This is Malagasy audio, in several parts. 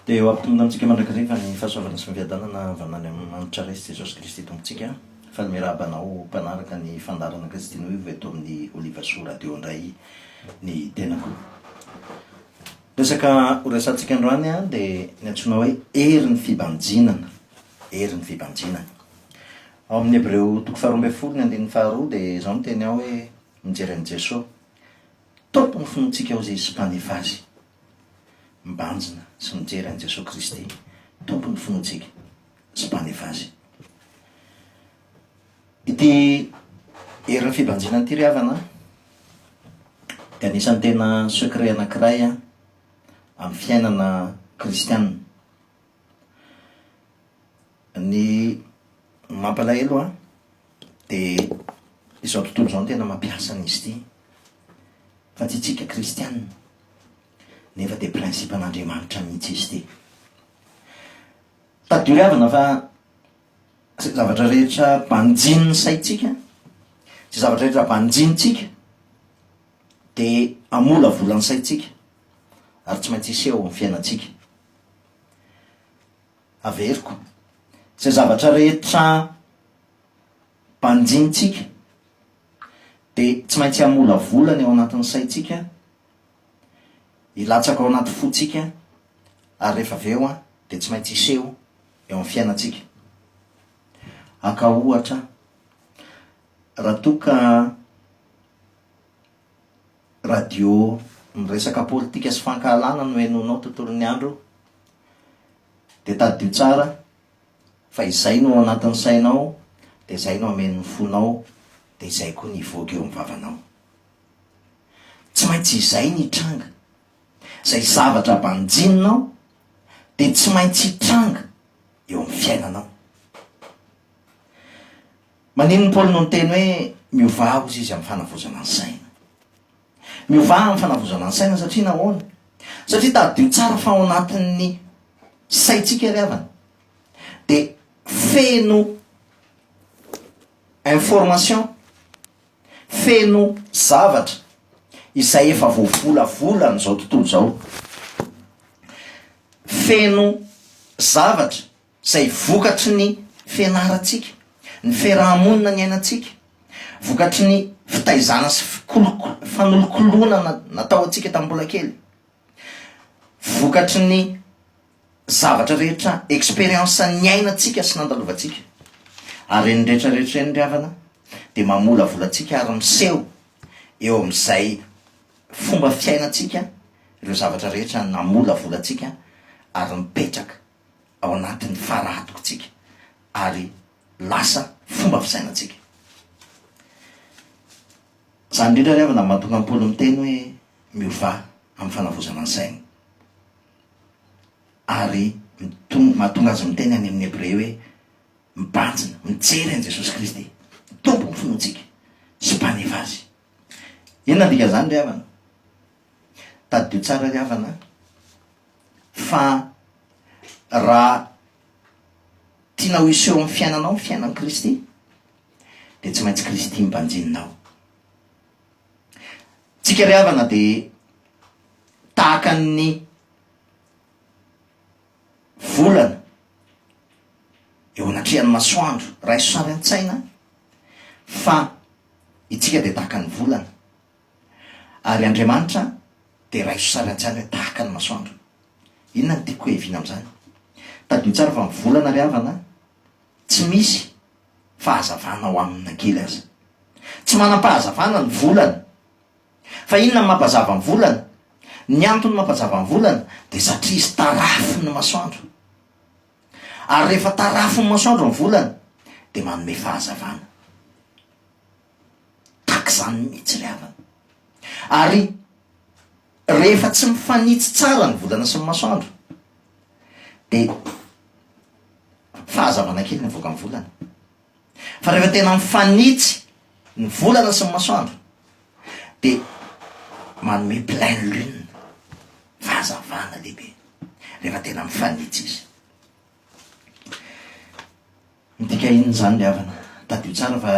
Dia ho ampitomina amintsika mandrakizay fa ny fahasoavana sy ny fiadanana avy hatrany amin'ny Manitra Ray sy Jesosy Kristy Tompontsika fa ny miarahaba anao mpanaraka ny fandaharana Kristin'oivo eto amin'ny Olivasoa Radio indray ny tenako. Resaka ho resahantsika androany dia ny antsoina hoe herin'ny fibanjinana, herin'ny fibanjinana. Ao amin'ny Hebreo toko faharoa ambin'ny folo ny andininy faharoa dia izao ny teny ao hoe mijery an'i Jesosy, Tompon'ny finoantsika hoy izy sy Mpanefa azy. mibanjina sy mijery an'i Jesoa Kristy, Tompon'ny finoantsika sy Mpanefa azy. Ity herin'ny fibanjinana ity ry havana dia anisan'ny tena secret anankiray amin'ny fiainana kristianina. Ny mampalahelo an, dia izao tontolo izao no tena mampiasa an'izy ity, fa tsy isika kristiana, nefa dia principe an'Andriamanitra mihitsy izy ity. Tadidio havana fa izay zavatra rehetra banjinin'ny saintsika, izay zavatra rehetra banjinintsika, dia hamolavola ny saintsika, ary tsy maintsy hiseho eo amin'ny fiainantsika. Averiko izay zavatra rehetra banjintsika dia tsy maintsy hamolavola ny ao anatin'ny saintsika, hilatsaka ao anaty fontsika ary rehefa avy eo dia tsy maintsy hiseho eo amin'ny fiainantsika. Haka ohatra, raha toa ka Radio miresaka politika sy fankahalana no henoinao tontolo ny andro dia tadidio tsara fa izay no ao anatin'ny sainao dia izay no hamen'ny fonao dia izay koa no hivoaka eo amin'ny vavanao. Tsy maintsy izay no hitranga. Izay zavatra banjininao dia tsy maintsy hitranga eo amin'ny fiainanao. Maninona i Paoly no niteny hoe miovà hozy izy amin'ny fanavozana ny saina? Miovà amin'ny fanavozana ny saina satria nahoana? Satria tadidio tsara fa ao anatin'ny saintsika ry havana dia feno information, feno zavatra izay efa voavolavolàn'izao tontolo izao. Feno zavatra. izay vokatry ny fianarantsika, ny fiaraha-monina niainantsika, vokatry ny fitaizana sy fanolokoloana natao antsika tamin'ny mbola kely, vokatry ny zavatra rehetra expérience niainantsika sy nandalovantsika. Ary ireny rehetra rehetra ireny ry havana dia mamolavola antsika ary miseho eo amin'izay fomba fiainantsika ireo zavatra rehetra namolavola antsika ary mipetraka. ao anatin'ny fara-hatokintsika ary lasa fomba fisainantsika. Izany indrindra ry havana no mahatonga an'i Paoly miteny hoe miovà amin'ny fanavozana ny saina. Ary mahatonga azy miteny any amin'ny Hebreo hoe mibanjina, mijery an'i Jesosy Kristy, Tompon'ny finoantsika sy Mpaneva azy. Inona ny dikan'izany ry havana? Tadidio tsara ry havana an! Fa raha tiana ho hiseho amin'ny fiainanao ny fiainan'i Kristy dia tsy maintsy Kristy no banjinina ao. Tsika ry havana dia tahaka ny volana eo anatrehan'ny masoandro. Raiso sary an-tsaina fa itsika dia tahaka ny volana Ary Andriamanitra dia raiso sarantsara tahaka ny masoandro. Inona no tiako hoheviana amin'izany? Tadidio tsara fa ny volana ry havana tsy misy fahazavana ao aminy na kely aza. Tsy manam-pahazavana ny volana. Fa inona no mampazava ny volana? Ny antony mampazava ny volana dia satria izy tarafin'ny masoandro. Ary rehefa tarafin'ny masoandro ny volana dia manome fahazavana. Tahaka izany mihitsy ilay havana. Ary rehefa tsy mifanitsy tsara ny volana sy ny masoandro, dia fahazavana kely ny avoakan'ny volana. Fa rehefa tena mifanitsy ny volana sy ny masoandro, dia manome pleine lune, fahazavana lehibe, rehefa tena mifanitsy izy. Midika inona izany ry havana? Tadidio tsara fa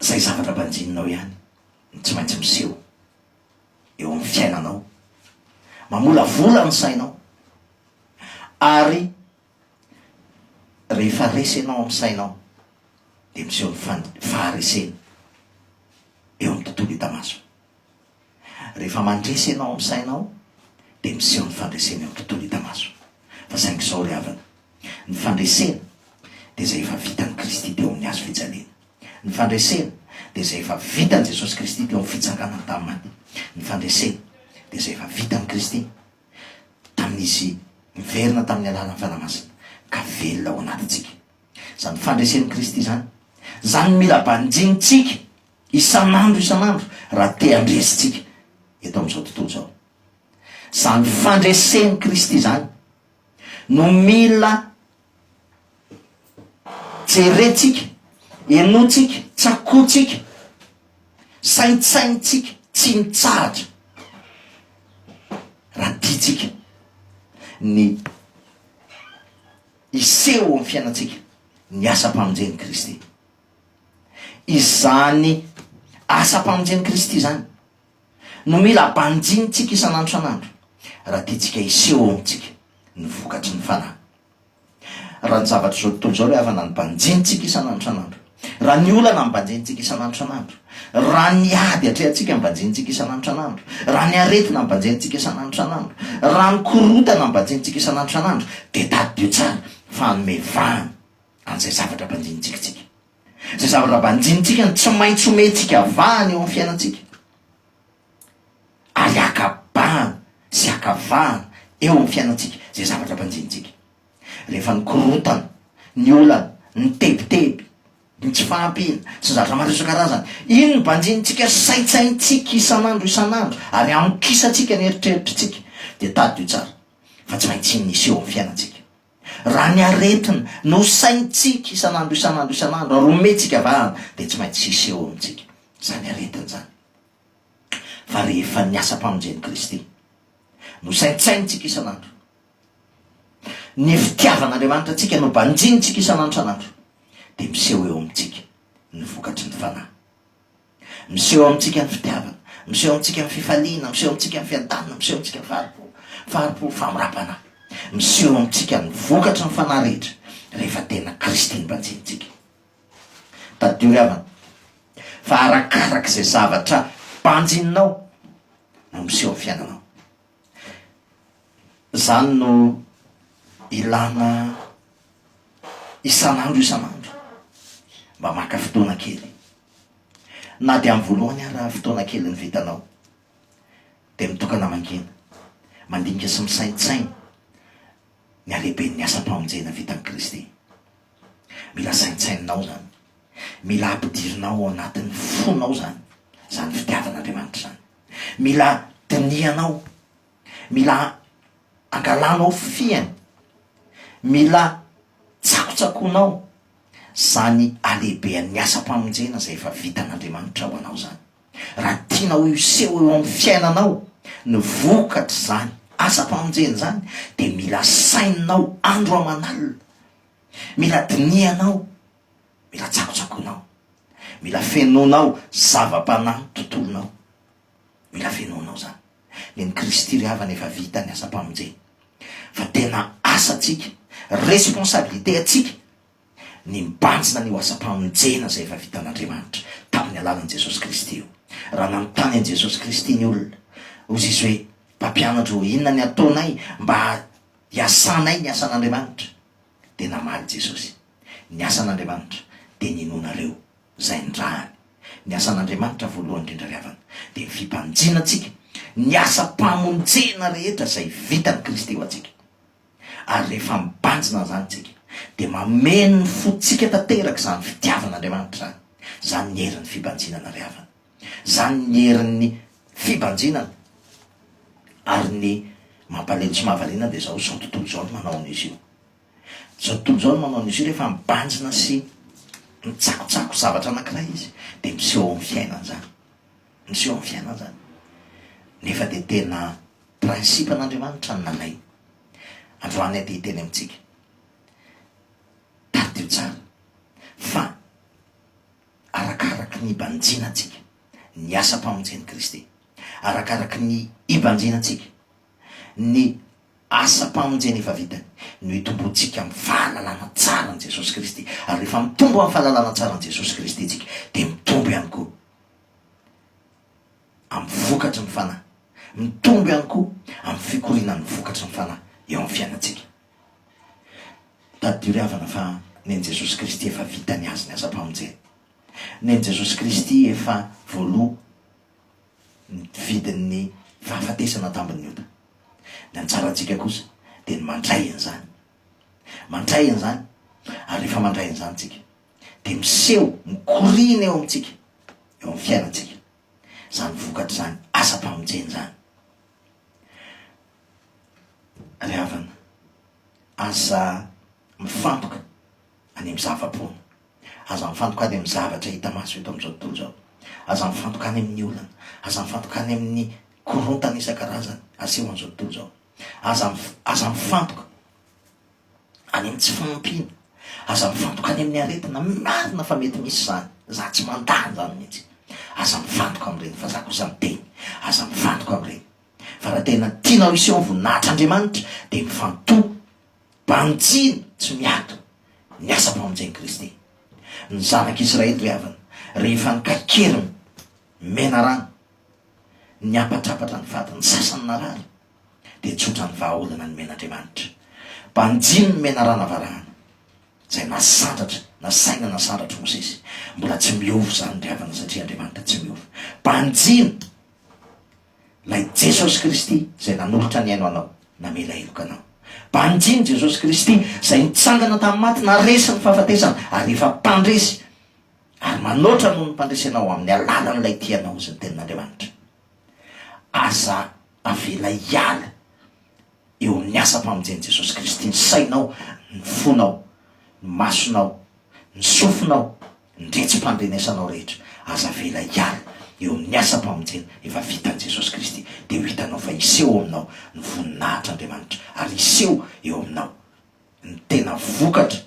izay zavatra banjininao ihany no tsy maintsy miseho eo amin'ny fiainanao. Mamolavola ny sainao ary rehefa resy ianao amin'ny sainao dia miseho ny faharesena eo amin'ny tontolo hita maso. Rehefa mandresy ianao amin'ny sainao dia miseho ny fandresena eo amin'ny tontolo hita maso. Fa saingy izao ry havana, ny fandresena dia izay efa vitan'i Kristy teo amin'ny hazo fijaliana. Ny fandresena dia izay efa vitan'i Jesosy Kristy teo amin'ny fitsanganany tamin'ny maty. Ny fandresena dia izay efa vitan'i Kristy tamin'izy niverina tamin'ny alalan'ny Fanahy Masina ka velona ao anatintsika. Izany fandresen'i Kristy izany, izany mila banjinintsika Isan'andro isan'andro raha te handresy tsika eto amin'izao tontolo izao. Izany fandresen'i Kristy izany no mila jerentsika, henointsika, tsakointsika, saintsainintsika tsy mitsahatra raha tiantsika ny hiseho eo amin'ny fiainantsika ny asam-pamonjen'i Kristy. Izany asam-pamonjen'i Kristy izany no mila banjinintsika isan'andro isan'andro raha tiantsika hiseho ao amintsika ny vokatry ny Fanahy. Raha ny zavatr'izao tontolo izao ilay havana no banjinintsika isan'andro isan'andro, raha ny olana no banjinintsika isan'andro isan'andro, raha ny ady atrehantsika no banjinintsika isan'andro isan'andro, raha ny aretina no banjinintsika isan'andro isan'andro, raha ny korontana no banjinintsika isan'andro isan'andro dia tadidio tsara fa hanome vahana an'izay zavatra banjinintsika antsika. Izay zavatra banjinintsika no tsy maintsy omentsika vahana eo amin'ny fiainantsika. Ary akabahana sy akavahana eo amin'ny fiainantsika izay zavatra banjinintsika. Rehefa ny korotana, ny olana, ny tebiteby, ny tsy fahampiana sy ny zavatra maro isan-karazany, iny no banjinintsika saintsaintsika isan'andro isan'andro ary amokisantsikany eritreritritsika, dia tadidio tsara fa tsy maintsy iny no hiseho amin'ny fiainantsika. Raha ny aretina no saintsika isan'andro isan'andro isan'andro ary omentsika vahana dia tsy maintsy hisy eo amintsika izany aretina izany. Fa rehefa ny asam-pamonjen'i Kristy no saintsaintsika isan'andro, ny fitiavan'Andriamanitra antsika no banjintsika isan'andro isan'andro dia miseho eo amintsika ny vokatry ny Fanahy. Miseho amintsika ny fitiavana. Miseho amintsika ny fifaliana. Miseho amintsika ny fiadanana. Miseho amintsika ny fahari-po. Fahari-po, famora-panahy. Miseho amintsika ny vokatry ny fanahy rehetra rehefa tena Kristy no banjinintsika. Tadidio ry havana fa arakarak'izay zavatra banjininao no miseho ny fiainanao. Izany no ilàna isan'andro isan'andro mba maka fotoana kely. Na dia amin'ny voalohany ara fotoana kely ny vitanao, dia mitokana mangina, mandinika sy misaintsaina ny halehiben'ny asam-pamonjena vitan'i Kristy. Mila saintsaininao izany. Mila ampidirinao ao anatin'ny fonao izany, izany fitiavan'Andriamanitra izany. Mila dinihanao, mila angalanao fihiny, mila tsakotsakoinao izany halehibehan'ny asam-pamonjena izay efa vitan'Andriamanitra ho anao izany. Raha tianao hiseho eo amin'ny fiainanao ny vokatr'izany asam-pamonjena izany dia mila saininao andro aman'alina, mila dinihanao. Mila tsakotsakoinao. Mila fenoinao zava-panahy tontolonao. Mila fenoinao zany. Nen'i Kristy ry havana efa vita ny asam-pamonjena. Fa tena asantsika, responsabilité antsika ny mibanjina an'io asam-pamonjena izay efa vitan'Andriamanitra tamin'ny alalan'i Jesosy Kristy io. Raha nanontany an'i Jesosy Kristy ny olona, hozy izy hoe, Mpampianatro ô, inona ny ataonay mba hiasanay ny asan'Andriamanitra? Dia namaly Jesosy, Ny asan'Andriamanitra dia ny inoanareo izay nirahany. Ny asan'Andriamanitra voalohany indrindra ry havana dia ny fibanjina antsika, ny asam-pamonjena rehetra izay vitan'i Kristy ho antsika. Ary rehefa mibanjina an'izany isika dia mameno ny fontsika tanteraka izany fitiavan'Andriamanitra izany, izany ny herin'ny fibanjinana ry havana. Izany ny herin'ny fibanjinana ary ny mampalemy sy mahavariana dia izao izao tontolo izao no manao an'izy io. Izao tontolo izao no manao an'izy io rehefa mibanjina sy mitsakotsako zavatra anankiray izy dia miseho amin'ny fiainany izany. Miseho amin'ny fiainany izany. Nefa dia tena principe-n'Andriamanitra ny nalainy. Androany aho dia hiteny amintsika. Tadidio tsara fa Arakaraky ny ibanjina antsika ny asam-pamonjen'i Kristy. Arakaraky ny ibanjina antsika ny asam-pamonjena efa vitany no hitomboantsika amin'ny fahalalana tsara an'i Jesosy Kristy. Ary rehefa mitombo amin'ny fahalalana tsara an'i Jesosy Kristy antsika dia mitombo ihany koa amin'ny vokatry ny Fanahy. Mitombo ihany koa amin'ny fikorianan'ny vokatry ny Fanahy eo amin'ny fiainantsika. Tadidio ry havana fa nen'i Jesosy Kristy efa vita ny azy ny asam-pamonjena. Nen'i Jesosy Kristy efa voaloa ny vidin'ny fahafatesana tambin'ny ota. Ny antsarantsika kosa dia ny mandray an'izany. Mandray an'izany ary rehefa mandray an'izany tsika dia miseho, mikoriana eo amintsika, eo amin'ny fiainantsika. Izany vokatr'izany asam-pamonjena izany. Ry havana, aza mifantoka any amin'ny zava-poana. Aza mifantoka any amin'ny zavatra hita maso eto amin'izao tontolo izao. Aza mifantoka any amin'ny olana. Aza mifantoka any amin'ny korontana isan-karazany aseho an'izao tontolo izao. Aza, aza mifantoka any amin'ny tsy fahampiana. Aza mifantoka any amin'ny aretina. Marina fa mety misy izany. Izaho tsy mandà an'izany mihitsy. Aza mifantoka amin'ireny fa izaho kosa miteny, aza mifantoka amin'ireny. Fa raha tena tianao hiseho voninahitr' Andriamanitra dia mifantoha, banjino tsy miato ny asam-pamonjen'i Kristy. Ny Zanak' Israely ry havana, rehefa nikaikery ny menarana, niampatrapatra ny fady, ny sasany narary, dia tsotra ny vahaolana nomen' Andriamanitra. Banjino ny menarana varahana, izay na sandratra na saina nasandratr'i Mosesy. Mbola tsy miova izany ry havana satria Andriamanitra tsy miova. Banjino! Ilay Jesosy Kristy izay nanolotra ny ainy ho anao, namela heloka anao. Banjin'i Jesosy Kristy izay nitsangana tamin'ny maty, naresy ny fahafatesana ary efa mpandresy ary manoatra noho ny mpandresy anao amin'ny alalan'ilay Tia anao izay ny Tenin'Andriamanitra. Aza avela hiala. eo amin'ny asam-pamonjen'i Jesosy Kristy, ny sainao, ny fonao, ny masonao, ny sofinao, ny retsi-pandrenesanao rehetra, aza avela hiala eo amin'ny asam-pamonjena efa vitan'i Jesosy Kristy, dia ho hitanao fa hiseho ao aminao ny voninahitr'Andriamanitra, ary hiseho eo aminao ny tena vokatra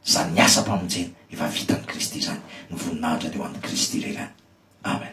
izany asam-pamonjena efa vitan'i Kristy izany, ny voninahitra dia ho an'i Kristy irery ihany. Amen.